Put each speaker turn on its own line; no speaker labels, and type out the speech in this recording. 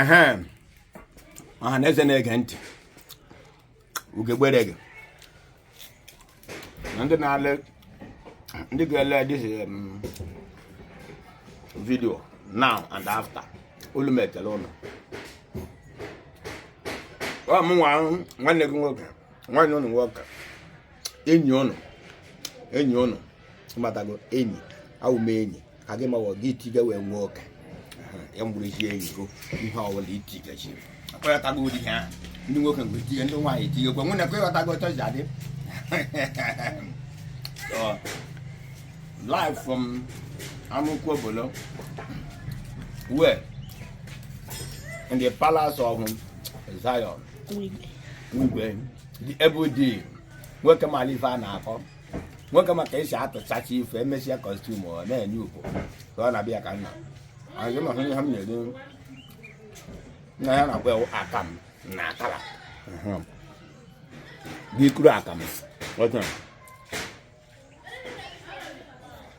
ehe ọha na eze na-ege ntị ugegbere gị na ndị na-ele ndị ga-ele this um, video now and after olu m ekele ụnụ ọ mụ nwa nwanne gị nwoke nwanne ụnụ nwoke enyi ụnụ enyi ụnụ matago enyi awụ m enyi ka gị mawa gị itiga wee nwee oke ya mgburuzi enyi go ihe ọbụla itigachiri akọghọtago ụdị ha ndị nwoke mgbe itinye ndị nwaanyị itinyekwa nwunye ka ị ghọtago otu ji adị live from Amukwu Obolo we're in the palace of Zion Wigwe the Ebudi nwoke malụ ive a na-akọ nwoke ma ka esi atụchacha ife emesịa kọstum ọ na-enye uko ka ọ na-abịa ka nna anyị ma ihe ha m na-eri nna ya na-akpọ ewu akam na akara gị kuru akam ọjọọ